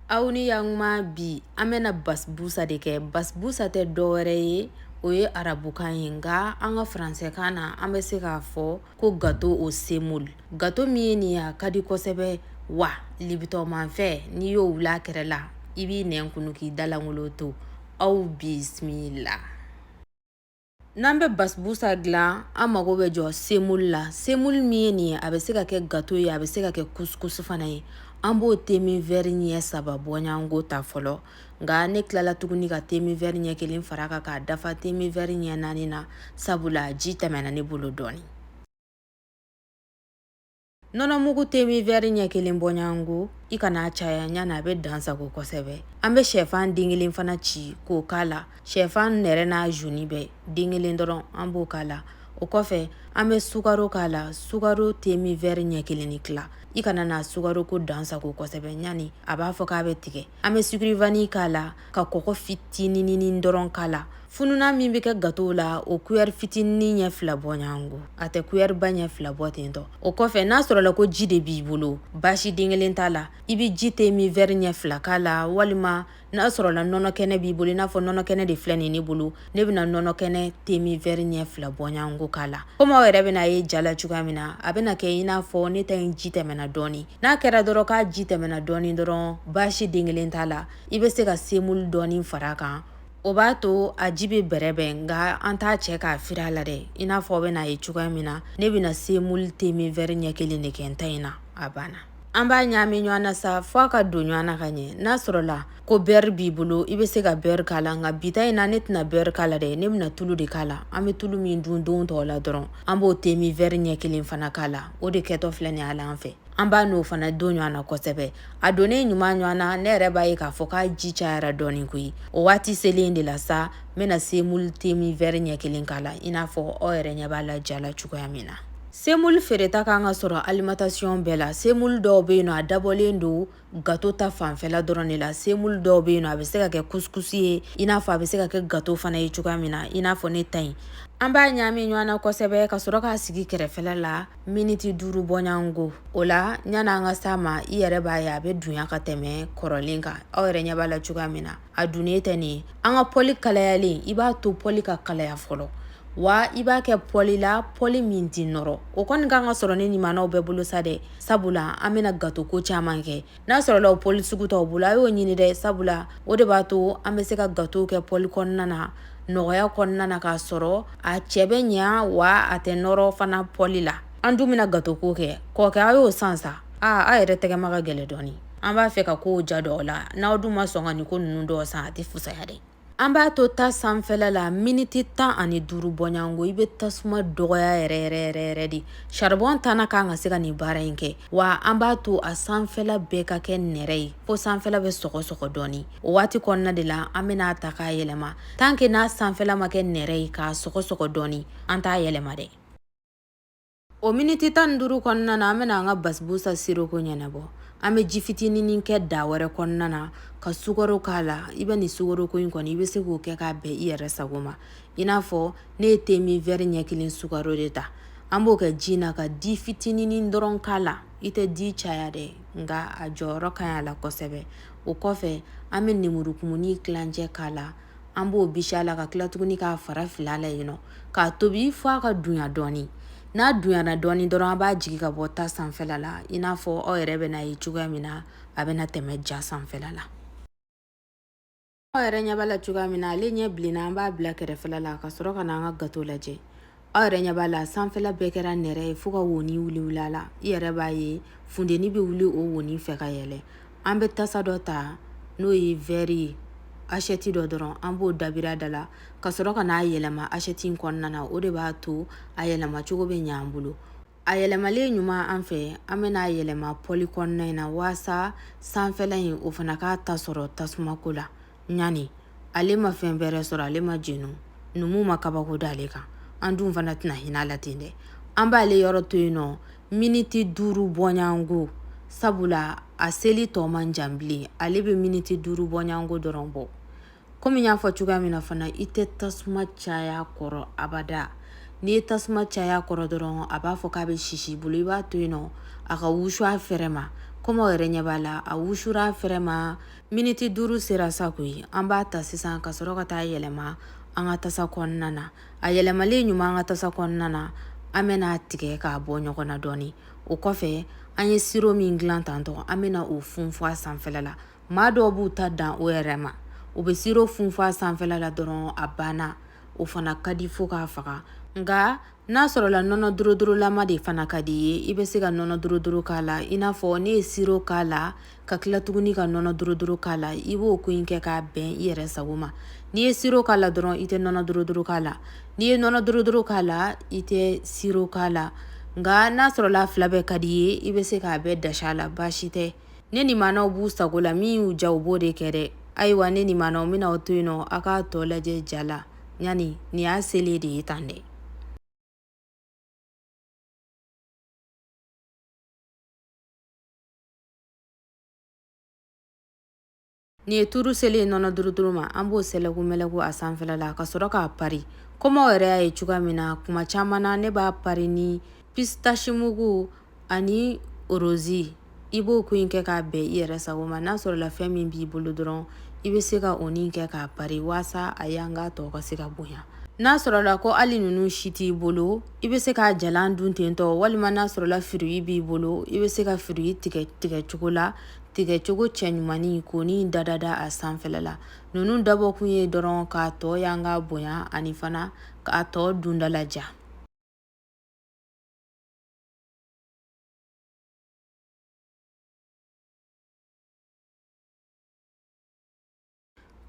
aw ni ye ɲuman bi an bɛna basbusa de kɛ basbusa tɛ dɔwɛrɛ ye o ye arabukan ye nka an ka faransɛkan na an bɛ se k'a fɔ ko gato o semol gato min ye nin ye a ka di kosɛbɛ wa libitɔnmanfɛn n'i y'o wul'a kɛrɛ la i b'i nɛn kunu k'i dalangolo to aw bisimila n'an bɛ basbusa dilan an mago bɛ jɔ semulu la semulu min ye nin ye a bɛ se ka kɛ gato ye a bɛ se ka kɛ kusukusu fana ye an b'o temin vɛri ɲɛ saba bɔɲɔgɔnko ta fɔlɔ nka ne tilala tuguni ka temin vɛri ɲɛ kelen far'a kan k'a dafa temin vɛri ɲɛ naani na sabula ji tɛmɛna ne bolo dɔɔnin nɔnɔ mugu temi vɛri ɲɛ kelen bɔɲɔgɔnko i kana a caya ɲani a bɛ dan sagon kosɛbɛ an bɛ shɛfan den kelen fana ci k'o k'a la shɛfan nɛrɛ n'a zoni bɛɛ den kelen dɔrɔn an b'o k'a la o kɔfɛ an bɛ sukaro k'a la sukaro temi vɛri ɲɛ kelen ni tila i kana na sukaro ko dan sagon kosɛbɛ ɲani a b'a fɔ k'a bɛ tigɛ an bɛ sukuri vani k'a la ka kɔkɔ fitinininin dɔrɔn k'a la fununan min bɛ kɛ gato la o kuyɛri fitinin ɲɛ fila bɔɲɔgɔnko a tɛ kuyɛriba ɲɛ fila bɔ ten tɔ o kɔfɛ n'a sɔrɔ la ko ji de b'i bolo baasi den kelen t'a la i bɛ ji temin vɛri ɲɛ fila k'a la walima n'a sɔrɔ la nɔnɔ kɛnɛ b'i bolo i n'a fɔ nɔnɔ kɛnɛ de filɛ nin ne bolo ne bɛna nɔnɔ kɛnɛ temi vɛri ɲɛ fila bɔɲɔgɔnko k'a la komi aw yɛrɛ bɛna a ye ja la cogoya min na a bɛna kɛ i n'a fɔ ne ta in ji tɛmɛna dɔɔni n'a kɛra dɔrɔn k'a ji tɛmɛna dɔɔni dɔrɔn baasi den kelen t'a la i bɛ se ka semulu dɔɔni far'a kan o b'a to a ji bɛ bɛrɛbɛn nka an t'a cɛ k'a firi a la dɛ i n'a fɔ aw bɛna a ye cogoya min na ne bɛna semulu temi vɛri ɲɛ kelen de kɛ n ta in na a banna an b'a ɲaami ɲɔgɔn na sa fo a ka don ɲɔgɔn na ka ɲɛ n'a sɔrɔ la ko bɛri b'i bolo i bɛ se ka bɛri k'a la nka bi ta in na ne tɛna bɛri k'a la dɛ ne bɛna tulu de k'a la an bɛ tulu min dun don tɔw la dɔrɔn an b'o temi vɛri ɲɛ kelen fana k'a la o de kɛtɔ filɛ nin a la an fɛ an b'a n'o fana don ɲɔgɔn na kosɛbɛ a donnen ɲuman ɲɔgɔn na ne yɛrɛ b'a ye k'a fɔ k'a ji cayara dɔɔnin koyi o waati selen de la sa n bɛna semulu temi vɛri ɲɛ kelen k'a la i n'a fɔ aw yɛrɛ ɲɛ b'a la ja la cogoya min na semulu feereta ka kan ka sɔrɔ alimantasiyɔn bɛɛ la semulu dɔw bɛ yen nɔ a dabɔlen don gato ta fanfɛla dɔrɔn de la semulu dɔw bɛ yen nɔ a bɛ se ka kɛ kusukusu ye i n'a fɔ a bɛ se ka kɛ gato fana ye cogoya min na i n'a fɔ ne ta in an b'a ɲaami ɲɔgɔn na kosɛbɛ ka sɔrɔ k'a sigi kɛrɛfɛla la miniti duuru bɔɲɔgɔnko o la ɲani an ka s'a ma i yɛrɛ b'a ye a bɛ dunya ka tɛmɛ kɔrɔlen kan aw yɛrɛ ɲɛ b'a la cogoya min na a dunyalen tɛ nin ye an ka pɔli kalayalen i b'a to pɔli ka kalaya fɔlɔ wa i b'a kɛ pɔli la pɔli min tɛ nɔrɔ o kɔni ka kan ka sɔrɔ ne ɲumanw bɛɛ bolo sa dɛ sabula an bɛna gatoko caman kɛ n'a sɔrɔla o pɔli sugu t'aw bolo a y'o ɲini dɛ sabula o de b'a to an bɛ se ka gato kɛ pɔli kɔnɔna na nɔgɔya kɔnɔna na k'a sɔrɔ a cɛ bɛ ɲɛ wa a tɛ nɔrɔ fana pɔli la an dun bɛna gatoko kɛ kɔkɛ a y'o san sa aa a yɛrɛ tɛgɛma ka gɛlɛn dɔɔnin an b'a fɛ ka ko ja dɔ la n'aw dun ma sɔn ka nin ko ninnu dɔ san a tɛ fusaya dɛ an b'a to ta sanfɛla la miniti tan ani duuru bɔɲɔgɔnko i bɛ tasuma dɔgɔya yɛrɛ yɛrɛ yɛrɛ yɛrɛ dɛ saribɔn ta man kan ka se ka nin baara in kɛ wa an b'a to a sanfɛla bɛɛ ka kɛ nɛrɛ ye fo sanfɛla bɛ sɔgɔsɔgɔ dɔɔni o waati kɔnɔna de la an bɛna a ta k'a yɛlɛma tan ke n'a sanfɛla ma kɛ nɛrɛ ye ka sɔgɔsɔgɔ dɔɔni an t'a yɛlɛma dɛ o miniti tan ni duuru kɔnɔna na an bɛna an ka basibusa siroko ɲɛnabɔ an bɛ ji fitinin kɛ da wɛrɛ kɔnɔna na ka sukaro k'a la i bɛ nin sukaroko in kɔni i bɛ se k'o kɛ k'a bɛn i yɛrɛ sago ma i n'a fɔ ne ye te min vɛri ɲɛ kelen sukaro de ta an b'o kɛ ji na ka di fitinin dɔrɔn k'a la i tɛ di caya dɛ nka a jɔyɔrɔ ka ɲi a la kosɛbɛ o kɔfɛ an bɛ nemurukumuni tilancɛ k'a la an b'o bisi a la ka tila tuguni k'a fara fili a la yen nɔ k'a tobi fo a ka dunya dɔɔni n'a dunyana dɔɔni dɔrɔn an b'a jigi ka bɔ ta sanfɛla la i n'a fɔ aw yɛrɛ bɛna a ye cogoya min na a bɛna tɛmɛ ja sanfɛla la aw yɛrɛ ɲɛ b'a la cogoya min na ale ɲɛ bilenna an b'a bila kɛrɛfɛla la ka sɔrɔ ka na an ka gato lajɛ aw yɛrɛ ɲɛ b'a la sanfɛla bɛɛ kɛra nɛrɛ ye fo ka woni wuli wuli a la i yɛrɛ b'a ye funteni bɛ wuli o woni fɛ ka yɛlɛ an bɛ tasa dɔ ta n'o ye vɛri ye asɛti dɔ dɔrɔn an b'o dabiri a da la ka sɔrɔ ka n'a yɛlɛma asɛti in kɔnɔna na o de b'a to a yɛlɛma cogo bɛ ɲa an bolo a yɛlɛmalen ɲuman an fɛ an bɛna a yɛlɛma pɔli kɔnɔna in na waasa sanfɛla in o fana k'a ta sɔrɔ tasumako la ɲani ale ma fɛn bɛrɛ sɔrɔ ale ma jeni numu ma kabako da ale kan an dun fana tɛna hinɛ a la ten dɛ an b'ale yɔrɔ to yen nɔ miniti duuru bɔnyanko sabula a seli tɔ man jan bilen ale bɛ miniti duuru bɔnyanko dɔrɔn bɔ komi n y'a fɔ cogoya min na fana i tɛ tasuma caya a kɔrɔ abada n'i ye tasuma caya a kɔrɔ dɔrɔn a b'a fɔ k'a bɛ sisi i bolo i b'a to yen nɔ a ka wusu a fɛrɛ ma komi aw yɛrɛ ɲɛ b'a la a wusura a fɛrɛ ma miniti duuru sera sa koyi an b'a ta sisan ka sɔrɔ ka taa a yɛlɛma an ka tasa kɔnɔna na a yɛlɛmalen ɲuman an ka tasa kɔnɔna na an bɛna a tigɛ k'a bɔ ɲɔgɔn na dɔɔni o kɔfɛ an ye siro min dilan tantɔ an bɛna o funfun a sanfɛla la maa dɔw b'u ta dan o yɛrɛ ma u bɛ siro funfun a sanfɛla la dɔrɔn a banna o fana ka di fo k'a faga nka n'a sɔrɔla nɔnɔ durudurulama de fana ka di i ye i bɛ se ka nɔnɔ duruduru k'a la i n'a fɔ ne ye siro k'a la ka tila tuguni ka nɔnɔ duruduru k'a la i b'o ko in kɛ k'a bɛn i yɛrɛ sago ma n'i ye siro k'a la dɔrɔn i tɛ nɔnɔ duruduru k'a la n'i ye nɔnɔ duruduru k'a la i tɛ siro k'a la nka n'a sɔrɔla fila bɛɛ ka di i ye i bɛ se k'a bɛɛ dasi a la baasi tɛ ne ni maanaw b'u sago la min y'u diya u b'o de kɛ dɛ ayiwa ne ni maanaw bɛna aw to yen nɔ aw k'a tɔ lajɛ ja la yani nin y'a selen de ye tan dɛ nin ye turu selen ye nɔnɔ duruduruma an b'o sɛlɛku mɛlɛku a sanfɛla la ka sɔrɔ k'a pari kɔm'aw yɛrɛ y'a ye cogoya min na kuma caman na ne b'a pari ni pisitasimugu ani rosi i b'o kɔni kɛ k'a bɛn i yɛrɛ sago ma n'a sɔrɔla fɛn min b'i bolo dɔrɔn i bɛ se k'o nin kɛ k'a pari waasa a yanga tɔgɔ ka se ka bonya n'a sɔrɔla ko hali ninnu si t'i bolo i bɛ se k'a jalan dun tentɔ walima n'a sɔrɔla firuyi b'i bolo i bɛ se ka firuyi tigɛ tigɛ cogo la tigɛ cogo cɛ ɲumannin k'o nin dadada a sanfɛla la ninnu dabɔkun ye dɔrɔn k'a tɔ yanga bonya ani fana k'a tɔ dundalaja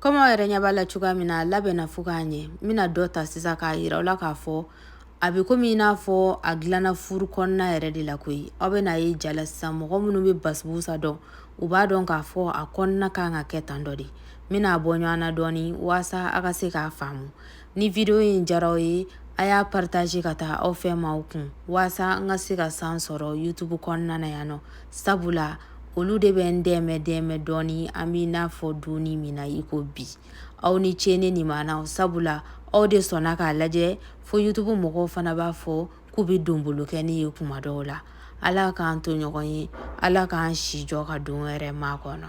Kɔmi aw yɛrɛ ɲɛ b'a la cogoya min na a labɛnna fo ka ɲɛ n bɛna dɔ ta sisan k'a yira aw la k'a fɔ a bɛ komi i n'a fɔ a dilanna furu kɔnɔna yɛrɛ de la koyi aw bɛn'a ye ja la sisan mɔgɔ minnu bɛ basibusa dɔn u b'a dɔn k'a fɔ a kɔnɔna kan ka kɛ tan dɔ de n bɛn'a bɔ ɲɔgɔn na dɔɔnin waasa a ka se k'a faamu ni video in diyara aw ye a y'a partage ka taa aw fɛ maaw kun waasa n ka se ka san sɔrɔ youtube kɔnɔna na yan nɔ sabula olu de bɛ n dɛmɛ dɛmɛ dɔɔni an b'i n'a fɔ donni min na i ko bi aw ni ce ne nimanaw sabula aw de sɔnna k'a lajɛ fo youtube mɔgɔw fana b'a fɔ k'u bɛ donbolo kɛ ne ye kuma dɔw la ala k'an to ɲɔgɔn ye ala k'an si jɔ ka don wɛrɛ makɔnɔ